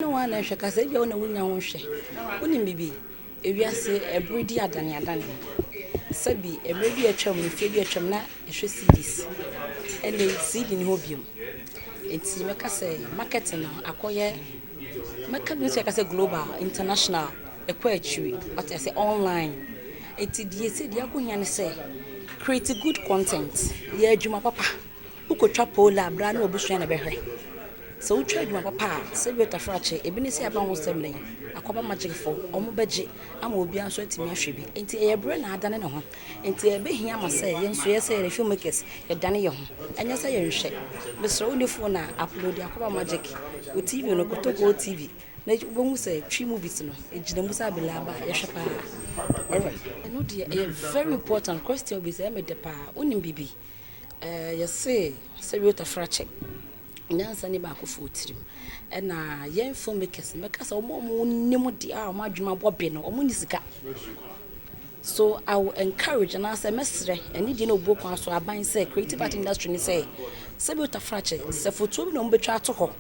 ne wɔn na hwɛ kasa, ebia wo na wunnya ho hwɛ. Wunim biribi? Wiase bere di adaneadane. Sɛbe mmere bi a atwam, mfe bi a atwam, na yɛhwɛ CDs. Ɛnde CD nni hɔ bio. Enti mɛka sɛ marketing no akɔyɛ, mɛka mɛtumi aka sɛ global, international, ɛkɔ akyiri. Wate ase? Online. Enti deɛ ɛsɛ, deɛ ɛho hia ne sɛ, create good content, yɛ adwuma papa. Wokotwa poll a bra ne w'abusua na ɛbɛhwɛ. Sɛ wotwa adwuma papa a, sɛ bi ɔtaforo akye, ebi ne sɛ yɛaba ho nsɛm nnɛ yi, akɔba Magicfoɔ, wɔn bɛgye ama obiara nso atumi ahwɛ bi. Enti ɛyɛ bere na adane ne ho. Enti ɛbɛhia ma sɛ yɛn nso yɛ sɛ yɛn filmmakers yɛdane yɛn ho. Ɛnyɛ sɛ yɛnhwɛ. Mesrɛ wonni phone a, upload akɔba Magic. Wo TV no, kɔtɔ GoTv na wobɛhu sɛ Twi movies no, ɛgyina mu sɛ abele aba a yɛhwɛ pa ara. Alright. Ɛno deɛ ɛyɛ very important, question bi sɛ ɛyɛ me dɛ pa ara. Wonim biribi? Ɛɛ, yɛse sɛ Reuther fra kyɛ, nyansa nni baakofoɔ tirim. Ɛna yɛn filmmakers no, mɛka sɛ wɔn a wɔnim deɛ a wɔn adwene abɔ be no, wɔnni sika. So I will encourage anaasɛ mɛsrɛ ɛne deɛ na obuo kwan so aban sɛ creative art industry no sɛ sɛ Reuther fra kyɛ, sɛ fotuo bi na wɔbɛtwa ato hɔ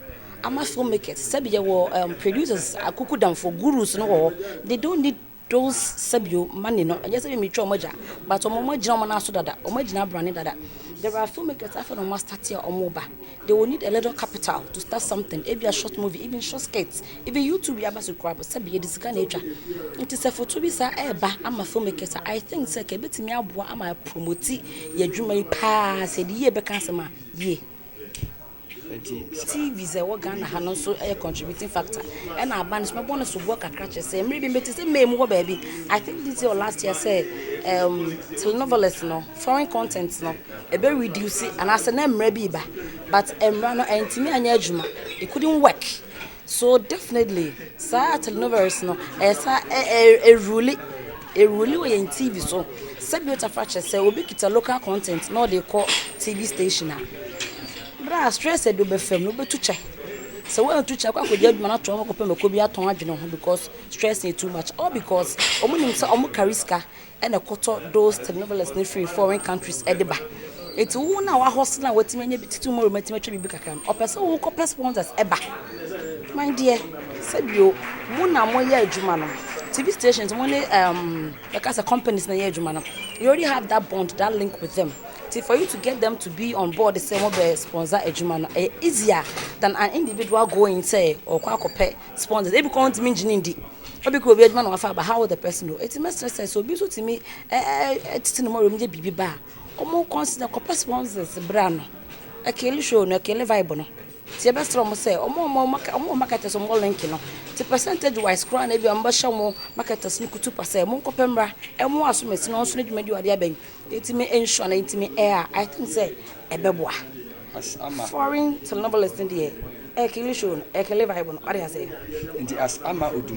ama filmmakers, sɛbi yɛwɔ ɛɛm producers, akukudamfoɔ, gurus no wɔ hɔ, they don't need Those sɛbio money no ɛnyɛ sɛ metwa wɔn agya but wɔn wɔn agyina wɔn nan so dada wɔn agyina abrane dada there are filmmakers afei na wɔn astate a wɔn ba they will need a little capital to start something ebi a short movie even short skits even YouTube bi aba so kura bɔ sɛbi yɛde sika na atwa nti sɛ foto bi saa ɛɛba ama filmmakers a I think sɛ ka ebetumi aboa ama promoti yɛ adwuma yi paa sɛ de yie bɛka asɛm a yie. TV sɛ ɛwɔ Ghana ha no nso yɛ contributing factor. Ɛna aban nso mɛbɔ no soboɔ kakra kyerɛ sɛ mmere bi mete sɛ May mu hɔ baabi. I think this year or last year sɛ um, telenovelas no, foreign content no, ɛbɛ reduce anaasɛ na mmara bi ba. But mmara no ɛntumi anyɛ adwuma. It couldn't work. So definitely saa telenoveles no ɛsa ɛ ɛ ɛruli ɛruli wɔ yɛn TV so sɛ bi ɔtafa kyɛ sɛ obi kita local content na ɔde kɔ TV station a berɛ a stress ɛde ɔbɛfam no wobɛtu kyɛ sɛ wɔantu kyɛ kɔ akɔgya adwuma no ato hɔ kɔpɛ mako bi atɔn adwene ho because stress yɛ too much all because wɔn nim sɛ wɔn kari sika na ɛkɔtɔ those telenovelas no firi foreign countries de ba. Enti wo na wahustle a watumi anya bi ti tomorrow matumi atwa biribi kakra no, ɔpɛ sɛ wokɔpɛ sponsors ba. My dear, sɛ bio, mo na moyɛ adwuma no. TV stations, mo ne um, yɛka sɛ companies na yɛ adwuma no. You already have that bond, that link with them. Nti for you to get them to be on board sɛ mobɛ sponsor adwuma no, ɛyɛ easier than an individual going sɛ ɔkɔ akɔpɛ Sponsors, Ebi koraa wontumi nngye no nndi. Ebi koraa obi adwuma na wafa aba, how will the person know? Enti mɛsrɛ sɛ, sɛ obi nso tumi tete ne mmɔwerɛm gye biribi ba a, wɔn consider kɔpɛ sponsors bra no. Ɛkele show no, ɛkele vibe no. Nti yɛbɛsrɛ wɔn sɛ, wɔn a wɔn maka, wɔn marketers wɔn mmɔ link no. Nti percentage wise koraa na ebi a wɔbɛhyɛ wɔn marketers no kutupa sɛ, monkɔpɛ mmra, ɛmmoa asɔmasi no, wɔn nso n'adwumadi a wɔde abɛn no, yɛtumi ensure na yɛtumi air a, I think sɛ ɛbɛboa. As ama. Foreign syllables no deɛ, ɛkili show no, ɛkili vibe no, wate aseɛ. Nti as ama odum.